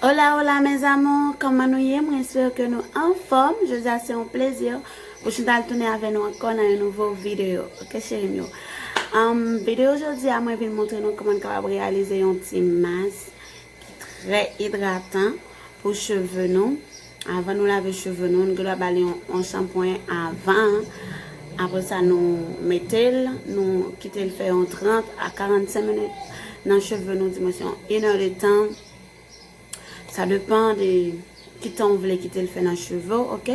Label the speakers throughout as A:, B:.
A: Hola hola mes amours kòman nou ye mwen espere ke nou anfòm jodi a se yon plezi pou chantal tounen avè nou ankò nan yon nouvo video ok cherim yo humm video jodi a mwen vin montre nou kòman nou kapab reyalize yon ti mas ki trè idratan pou cheve nou Avan nou lave cheve nou, nou gendwa ba li yon shanpwen avan, apre sa nou mete l, nou kite l fè yon 30 a 45 minit nan cheve nou, di mwens yon 1 è de tan, sa depan de ki tan ou vle kite l fè nan cheve ou, ok,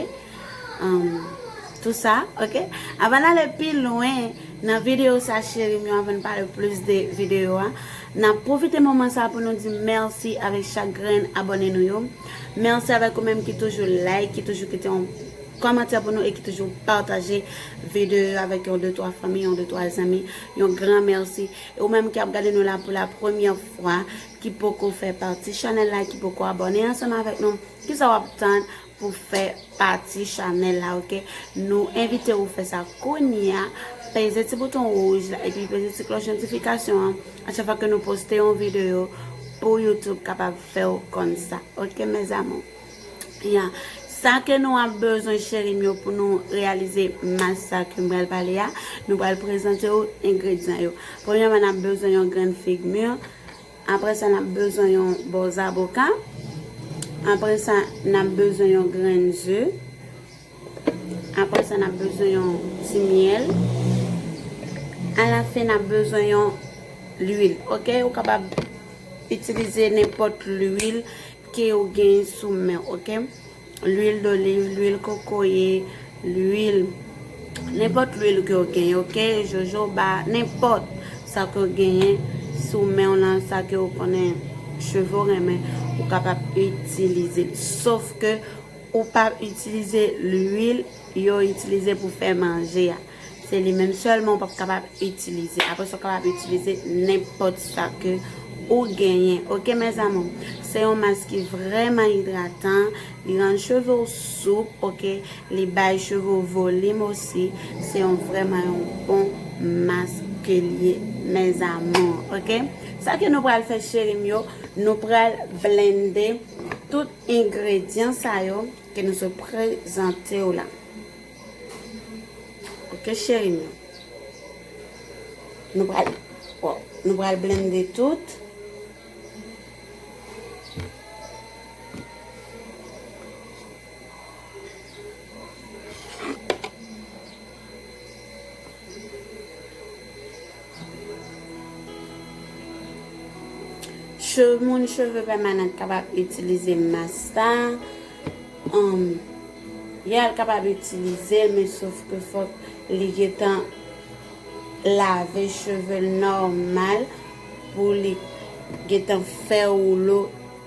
A: tout sa, ok. Avan n ale pi lwen nan videyo sa cheri m yo, avan n pale plis de videyo a, n ap pwofite moman sa pou nou di mèsi avèk chak grenn abòne nou yo. Merci avèk ou menm ki toujou like, ki toujou kite yon Kòmantè pou nou e ki toujou pataje video yo avèk yon de twa fanmi, yon de twa zanmi, yon gran merci. E ou menm ki ap gade nou la pou la premyè fwa, ki poko fè pati chanèl la, ki poko abòne ansanm avèk nou, kisa w ap tann pou fè pati chanèl la ok. Nou envite ou fè sa kounya, peze ti bouton wouj la epi peze ti klòch notifikasyon an, a chak fwa ke nou poste yon video pou youtube kapab. fèw konn sa ok mes amours. Ya sa ke nou ap bezwen cherim yo pou nou reyalize mas sa kem pral pale a nou pral prezantew engredyan yo premyèman nap bezwen yon grenn fig mur aprè sa nap bezwen yon bò zaboka aprè sa nap bezwen yon grenn ze Aprè sa nap bezwen yon ti myèl. A la fen nap bezwen yon lwil ok ou kapab itilize nenpòt lwil ke ou gen sou menw ok lwil doliv, lwil kokoye, lwil nenpòt lwil ke ou gen ok jojoba nenpòt sa ke ou genyen sou menw lan sa ke ou konnen cheve ou renmen ou kapab itilize sof ke Ou pa itilize lwil yo itilize pou fè manje a. Se li menm sèlman ou pap kapab itilize. Apre sa ou kapab itilize nenpòt sa ke ou genyen. Ok mes amour. Se yon mask ki vrèman idratan. Li rann cheve ou soup. Ok. Li bay cheve ou volim osi. Se yon vrèman yon bon mask ke li ye mes amour. Ok. Sa ke nou pral fè cherim yo. Nou pral blende tout. Engredyan sa yo ke nou sot prezante w la. Ok cheri m yo. Nou pral, waw, nou pral blende tout. Cheve moun cheve pèmanant kapab itilize mas sa. Um, ya l kapab itilize men sof ke fòk li getan lave cheve l nòmal pou li getan fè woulo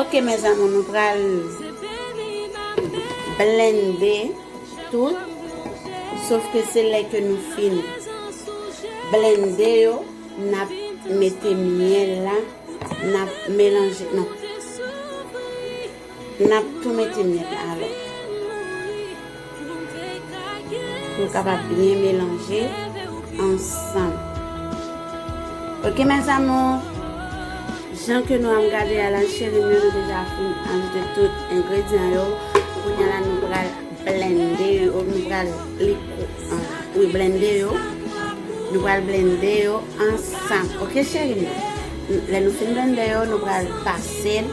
A: Ok mes amour nou pral blende tout sof ke se lè ke nou fin blende yo nap mete miel la nap melange non Nap tou mete mèt la alò. Pou l kapab byen melanje ansanm. Ok mes amours. Jan ke nou ap gade a la cherim yo nou deja fin ajoute tout engredyan yo. Kounya la nou pral blende yo. Nou pral li wi blende yo. Nou pral blende yo ansanm. Ok cherim yo. Lè nou fin blende yo nou pral pase l.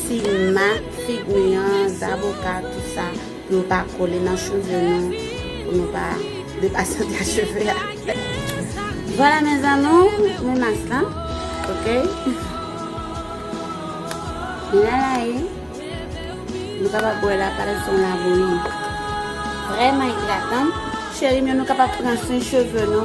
A: Si mak fig nou yan zaboka tout sa pou nou pa kole nan cheve nou pou nou pa depasante a cheve a. Vwala mes amours men mas lan ok la la e nou ka pa bwe la pare son la bouyi. Vreman idratan. Cherim yo nou kapab pran swen cheve nou.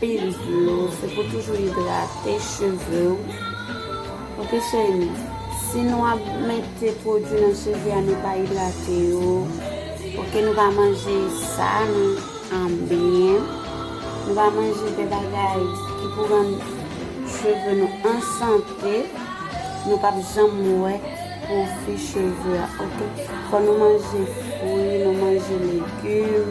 A: Pil dlo, se pou toujou idrate cheve ou. Ok cheri, si nou ap mete pwodwi nan cheve a nou pa idrate yo, ok nou pa manje sa nou anbyen, nou pa manje de bagay ki pou rann cheve nou an sante, nou pa p janm wè pwofi cheve a ok. Fò nou manje fwi, nou manje legim.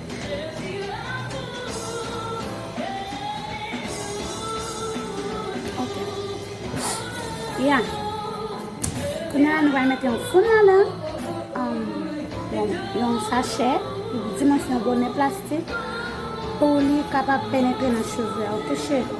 A: Ya. Kounye a nou va mette yon foun nan lan. Um, yon sachè. Di mwen se yon bonè plastik. Pou li kapap penetre nan cheve. Ok, cheve.